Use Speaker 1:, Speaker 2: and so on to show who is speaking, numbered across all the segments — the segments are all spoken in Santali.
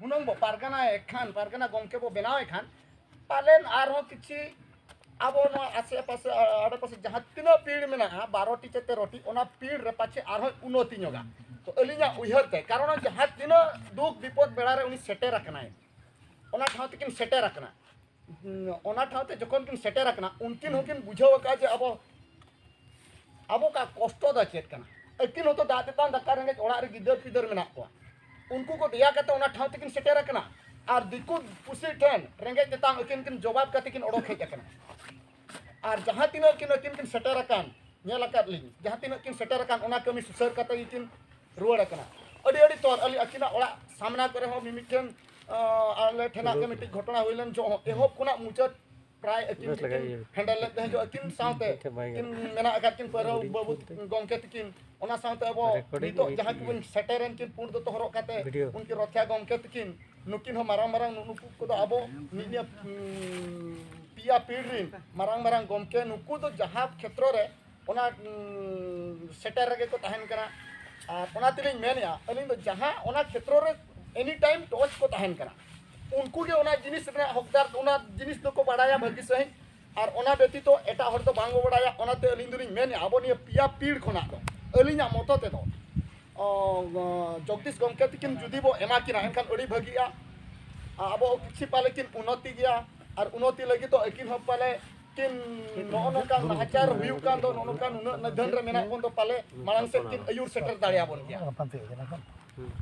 Speaker 1: ᱦᱩᱱᱟᱹᱝ ᱵᱚ ᱯᱟᱨᱜᱟᱱᱟ ᱮᱠᱷᱟᱱ ᱯᱟᱨᱜᱟᱱᱟ ᱜᱚᱢᱠᱮ ᱵᱚ ᱵᱮᱱᱟᱣ ᱮᱠᱷᱟᱱ ᱯᱟᱞᱮᱱ ᱟᱨᱦᱚᱸ ᱠᱤᱪᱷᱤ ᱟᱵᱚ ᱱᱚᱣᱟ ᱟᱥᱮ ᱯᱟᱥᱮ ᱟᱲᱮ ᱯᱟᱥᱮ ᱡᱟᱦᱟᱸ ᱛᱤᱱᱟᱹᱜ ᱯᱤᱲ ᱢᱮᱱᱟᱜᱼᱟ ᱵᱟᱨᱚᱴᱤ ᱥᱮ ᱛᱮᱨᱚᱴᱤ ᱚᱱᱟ ᱯᱤᱲ ᱨᱮ ᱯᱟᱪᱷᱮ ᱟᱨᱦᱚᱸ ᱩᱱᱱᱚᱛᱤ ᱧᱚᱜᱟ ᱛᱚ ᱟᱹᱞᱤᱧᱟᱜ ᱩᱭᱦᱟᱹᱨ ᱛᱮ ᱠᱟᱨᱚᱱ ᱡᱟᱦᱟᱸ ᱛᱤᱱᱟᱹᱜ ᱫᱩᱠ ᱵᱤᱯᱚᱫ ᱵᱮᱲᱟ ᱨᱮ ᱩᱱᱤ ᱥᱮᱴᱮᱨ ᱟᱠᱟᱱᱟᱭ ᱚᱱᱟ ᱴᱷᱟᱶ ᱛᱮᱠᱤᱱ ᱥᱮᱴᱮᱨ ᱟᱠᱟᱱᱟ ᱚᱱᱟ ᱴᱷᱟᱶ ᱛᱮ ᱡᱚᱠᱷᱚᱱ ᱠᱤᱱ ᱥᱮᱴᱮᱨ ᱟᱠᱟᱱᱟ ᱩᱱᱠᱤᱱ ᱦᱚᱸᱠᱤᱱ ᱵᱩᱡᱷᱟᱹᱣ ᱟᱠᱟᱫᱼᱟ ᱡᱮ ᱟᱵᱚ ᱟᱵᱚ ᱠᱟ ᱠᱚᱥᱴᱚ ᱫᱚ ᱪᱮᱫ ᱠᱟᱱᱟ ᱟᱹᱠᱤᱱ ᱦᱚᱸᱛᱚ ᱫᱟᱜ ᱛᱮᱛᱟᱝ ᱫᱟᱠᱟ ᱨᱮᱸᱜᱮᱡ ᱚᱲᱟᱜ ᱨᱮ ᱜᱤᱫᱟᱹᱨ ᱯᱤᱫᱟᱹᱨ ᱢᱮᱱᱟᱜ ᱠᱚᱣᱟ ᱩᱱᱠᱩ ᱠᱚ ᱫᱮᱭᱟ ᱠᱟᱛᱮ ᱚᱱᱟ ᱴᱷᱟᱶ ᱛᱮᱠᱤᱱ ᱥᱮᱴᱮᱨ ᱟᱠᱟᱱᱟ ᱟᱨ ᱫᱤᱠᱩ ᱯᱩᱥᱤ ᱴᱷᱮᱱ ᱨᱮᱸᱜᱮᱡ ᱛᱮᱛᱟᱝ ᱟᱹᱠᱤᱱ ᱠᱤᱱ ᱡᱚᱵᱟᱵ ᱠᱟᱛᱮ ᱠᱤᱱ ᱚᱰᱚᱠ ᱦᱮᱡ ᱟᱠᱟᱱᱟ ᱟᱨ ᱡᱟᱦᱟᱸ ᱛᱤᱱᱟᱹᱜ ᱠᱤᱱ ᱟᱹᱠᱤᱱ ᱠᱤᱱ ᱥᱮᱴᱮᱨ ᱟᱠᱟᱱ ᱧᱮᱞ ᱟᱠᱟᱫ ᱞᱤᱧ ᱡᱟᱦᱟᱸ ᱛᱤᱱᱟᱹᱜ ᱠᱤᱱ ᱥᱮᱴᱮᱨ ᱟᱠᱟᱱ ᱚᱱᱟ ᱠᱟᱹᱢᱤ ᱥᱩᱥᱟᱹᱨ ᱠᱟᱛᱮ ᱜᱮᱠᱤᱱ ᱨᱩᱣᱟᱹᱲ ᱟᱠᱟᱱᱟ ᱟᱹᱰᱤ ᱟᱹᱰᱤ ᱛᱚᱨ ᱟᱹᱞᱤᱧ ᱟᱹᱠᱤᱱᱟᱜ ᱚᱲᱟᱜ ᱥᱟᱢᱱᱟ ᱠᱚᱨᱮ ᱦᱚᱸ ᱢᱤᱢᱤᱫᱴᱮᱱ ᱟᱞᱮ ᱴᱷᱮᱱᱟᱜ ᱜᱮ ᱢᱤᱫᱴᱤᱡ ᱜᱷᱚᱴᱚᱱᱟ ᱦᱩᱭ ᱞᱮᱱ ᱡᱚᱦᱚᱜ ᱮᱦᱚᱵ ᱠᱷᱚᱱᱟᱜ ᱢᱩᱪᱟᱹᱫ ᱯᱨᱟᱭ ᱟᱹᱠᱤᱱ ᱜᱮᱠᱤᱱ ᱦᱮᱱᱰᱮᱞ ᱞᱮᱫ ᱛᱟᱦᱮᱸ ᱟᱹᱠᱤᱱ ᱥᱟᱶᱛᱮ ᱠᱤᱱ ᱢᱮᱱᱟᱜ ᱟᱠᱟᱫ ᱠᱤᱱ ᱯᱟᱹᱨᱟᱹᱣ ᱵᱟᱹᱵᱩ ᱜᱚᱢᱠᱮ ᱛᱤᱠᱤᱱ ᱚᱱᱟ ᱥᱟᱶᱛᱮ ᱟᱵᱚ ᱱᱤᱛᱚᱜ ᱡᱟᱦᱟᱸ ᱠᱚᱵᱚᱱ ᱥᱮᱴᱮᱨᱮᱱ ᱠᱤᱱ ᱯᱩᱸᱰ ᱫᱚᱛᱚ ᱦᱚᱨᱚᱜ ᱠᱟᱛᱮ ᱩᱱᱠᱤᱱ ᱨᱚᱛᱷᱭᱟ ᱜᱚᱢᱠᱮ ᱛᱤᱠᱤᱱ ᱱᱩᱠᱤᱱ ᱦᱚᱸ ᱢᱟᱨᱟᱝ ᱢᱟᱨᱟᱝ ᱱᱩᱠᱩ ᱠᱚᱫᱚ ᱟᱵᱚ ᱱᱤᱭᱟᱹ ᱯᱮᱭᱟ ᱯᱤᱲ ᱨᱤᱱ ᱢᱟᱨᱟᱝ ᱢᱟᱨᱟᱝ ᱜᱚᱢᱠᱮ ᱱᱩᱠᱩ ᱫᱚ ᱡᱟᱦᱟᱸ ᱠᱷᱮᱛᱨᱚ ᱨᱮ ᱚᱱᱟ ᱥᱮᱴᱮᱨ ᱨᱮᱜᱮ ᱠᱚ ᱛᱟᱦᱮᱱ ᱠᱟᱱᱟ ᱟᱨ ᱚᱱᱟ ᱛᱮᱞᱤᱧ ᱢᱮᱱᱮᱜᱼᱟ ᱟᱹᱞᱤᱧ ᱫᱚ ᱡᱟᱦᱟᱸ ᱚᱱᱟ ᱠᱷᱮᱛᱨᱚ ᱨᱮ ᱮᱱᱤ ᱴᱟᱭᱤᱢ ᱴᱚᱪ ᱠᱚ ᱛᱟᱦᱮᱱ ᱠᱟᱱᱟ ᱩᱱᱠᱩ ᱜᱮ ᱚᱱᱟ ᱡᱤᱱᱤᱥ ᱨᱮᱱᱟᱜ ᱦᱚᱠᱫᱟᱨ ᱚᱱᱟ ᱡᱤᱱᱤᱥ ᱫᱚᱠᱚ ᱵᱟᱲᱟᱭᱟ ᱵᱷᱟᱹᱜᱤ ᱥᱟᱺᱦᱤᱡ ᱟᱨ ᱚᱱᱟ ᱵᱮᱛᱤᱛᱚ ᱮᱴᱟᱜ ᱦᱚᱲ ᱫᱚ ᱵᱟᱝ ᱠᱚ ᱵᱟᱲᱟᱭᱟ ᱚᱱᱟᱛᱮ ᱟᱹᱞᱤᱧ ᱫᱚᱞᱤᱧ ᱢᱮᱱᱮᱜᱼᱟ ᱟᱵᱚ ᱱᱤᱭᱟᱹ ᱯᱮᱭᱟ ᱯᱤᱲ ᱠᱷᱚᱱᱟᱜ ᱫᱚ ᱟᱹᱞᱤᱧᱟᱜ ᱢᱚᱛᱚ ᱛᱮᱫᱚ ᱡᱚᱜᱽᱫᱤᱥ ᱜᱚᱢᱠᱮ ᱛᱤᱠᱤᱱ ᱡᱩᱫᱤ ᱵᱚ ᱮᱢᱟ ᱠᱤᱱᱟ ᱮᱱᱠᱷᱟᱱ ᱟᱹᱰᱤ ᱵᱷᱟᱹᱜᱤᱜᱼᱟ ᱟᱵᱚ ᱠᱤᱪᱷᱩ ᱯᱟᱞᱮ ᱠᱤᱱ ᱩᱱᱱᱚᱛᱤ ᱜᱮᱭᱟ ᱟᱨ ᱩᱱᱱᱚᱛᱤ ᱞᱟᱹᱜᱤᱫ ᱫᱚ ᱟᱹᱠᱤᱱ ᱦᱚᱸ ᱯᱟᱞᱮ ᱠᱤᱱ ᱱᱚᱜᱼᱚ ᱱᱚᱝᱠᱟᱱ ᱱᱟᱦᱟᱪᱟᱨ ᱦᱩᱭᱩᱜ ᱠᱟᱱ ᱫᱚ ᱱᱚᱜᱼᱚ ᱱᱚᱝᱠᱟᱱ ᱩᱱᱟᱹᱜ ᱱᱤᱫᱷᱟᱹᱱ ᱨᱮ ᱢᱮᱱᱟᱜ ᱵᱚᱱ ᱫᱚ ᱯᱟᱞᱮ ᱢᱟᱲᱟᱝ ᱥᱮᱫ ᱠᱤᱱ ᱟᱹᱭᱩᱨ ᱥᱮᱴᱮᱨ ᱫᱟᱲᱮᱭᱟᱵᱚᱱ ᱜᱮᱭᱟ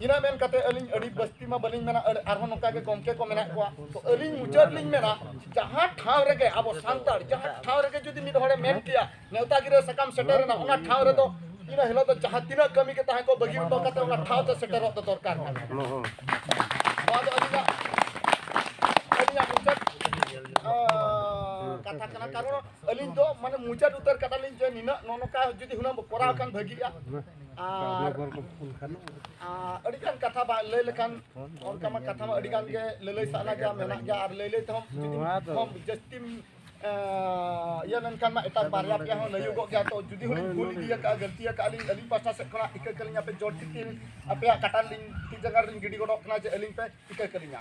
Speaker 1: ᱤᱱᱟᱹ ᱢᱮᱱ ᱠᱟᱛᱮ ᱟᱹᱞᱤᱧ ᱟᱹᱰᱤ ᱵᱟᱹᱥᱛᱤ ᱢᱟ ᱵᱟᱹᱞᱤᱧ ᱢᱮᱱᱟ ᱟᱨᱦᱚᱸ ᱱᱚᱝᱠᱟ ᱜᱮ ᱜᱚᱢᱠᱮ ᱠᱚ ᱢᱮᱱᱟᱜ ᱠᱚᱣᱟ ᱛᱚ ᱟᱹᱞᱤᱧ ᱢᱩᱪᱟᱹᱫ ᱞᱤᱧ ᱢᱮᱱᱟ ᱡᱟᱦᱟᱸ ᱴᱷᱟᱶ ᱨᱮᱜᱮ ᱟᱵᱚ ᱥᱟᱱᱛᱟᱲ ᱡᱟᱦᱟᱸ ᱴᱷᱟᱶ ᱨᱮᱜᱮ ᱡᱩᱫᱤ ᱢᱤᱫ ᱦᱚᱲᱮ ᱢᱮᱱ ᱠᱮᱭᱟ ᱱᱮᱣᱛᱟ ᱜᱤᱨᱟᱹ ᱥᱟᱠᱟᱢ ᱥᱮᱴᱮᱨᱮᱱᱟ ᱚᱱᱟ ᱴᱷᱟᱶ ᱨᱮᱫᱚ ᱤᱱᱟᱹ ᱦᱤᱞᱳᱜ ᱫᱚ ᱡᱟᱦᱟᱸ ᱛᱤᱱᱟᱹᱜ ᱠᱟᱹᱢᱤ ᱜᱮ ᱛᱟᱦᱮᱸ ᱠᱚᱜ ᱵᱟᱹᱜᱤ ᱦᱚᱴᱚ ᱠᱟᱛᱮ ᱚᱱᱟ ᱴᱷᱟᱶ ᱛᱮ ᱥᱮᱴᱮᱨᱚᱜ ᱫᱚ ᱫᱚᱨᱠᱟᱨ ᱠᱟᱱᱟ ᱱᱚᱣᱟ ᱫᱚ ᱟᱹᱞᱤᱧᱟᱜ ᱟᱹᱞᱤᱧᱟᱜ ᱢᱩᱪᱟᱹᱫ ᱠᱟᱛᱷᱟ ᱠᱟᱱᱟ ᱠᱟᱨᱚᱱ ᱟᱹᱞᱤᱧ ᱫᱚ ᱢᱟᱱᱮ ᱢᱩᱪᱟᱹᱫ ᱩᱛᱟᱹᱨ ᱠᱟᱫᱟᱞᱤᱧ ᱡᱮ ᱱᱤᱱᱟᱹᱜ ᱱᱚᱜᱼᱚ ᱱᱚᱝᱠᱟ ᱡᱩᱫᱤ ᱦᱩᱱᱟᱹᱝ ᱠᱚᱨᱟᱣ ᱠᱷᱟᱱ ᱵᱷᱟᱹᱜᱤᱜᱼᱟ ᱟᱨ ᱟᱹᱰᱤᱜᱟᱱ ᱠᱟᱛᱷᱟ ᱵᱟᱝ ᱞᱟᱹᱭ ᱞᱮᱠᱷᱟᱱ ᱚᱱᱠᱟ ᱢᱟ ᱠᱟᱛᱷᱟ ᱢᱟ ᱟᱹᱰᱤᱜᱟᱱ ᱜᱮ ᱞᱟᱹᱞᱟᱹᱭ ᱥᱟᱱᱟ ᱜᱮᱭᱟ ᱢᱮᱱᱟᱜ ᱜᱮᱭᱟ ᱟᱨ ᱞᱟᱹᱭ ᱞᱟᱹᱭ ᱛᱮᱦᱚᱸ ᱡᱟᱹᱥᱛᱤᱢ ᱤᱭᱟᱹ ᱞᱮᱱᱠᱷᱟᱱ ᱢᱟ ᱮᱴᱟᱜ ᱵᱟᱨᱭᱟ ᱯᱮᱭᱟ ᱦᱚᱸ ᱞᱟᱹᱭᱚᱜᱚᱜ ᱜᱮᱭᱟ ᱛᱚ ᱡᱩᱫᱤ ᱦᱚᱸᱞᱤᱧ ᱵᱷᱩᱞ ᱤᱫᱤᱭᱟ ᱠᱟᱜᱼᱟ ᱜᱟᱹᱞᱛᱤ ᱟᱠᱟᱜᱼᱟ ᱞᱤᱧ ᱟᱹᱞᱤᱧ ᱯᱟᱥᱴᱟ ᱥᱮᱫ ᱠᱷᱚᱱᱟᱜ ᱤᱠᱟᱹ ᱠᱟᱹᱞᱤᱧ ᱟᱯᱮ ᱡᱳᱨ ᱴᱷᱤᱠ ᱟᱯᱮᱭᱟᱜ ᱠᱟᱴᱟ ᱨᱮᱞᱤᱧ ᱛᱤ ᱡᱟᱸᱜᱟ ᱨᱮᱞᱤᱧ ᱜᱤᱰᱤ ᱜᱚᱫᱚᱜ ᱠᱟᱱᱟ ᱡᱮ ᱟᱹᱞᱤᱧ ᱯᱮ ᱤᱠᱟᱹ ᱠᱟᱹᱞᱤᱧᱟ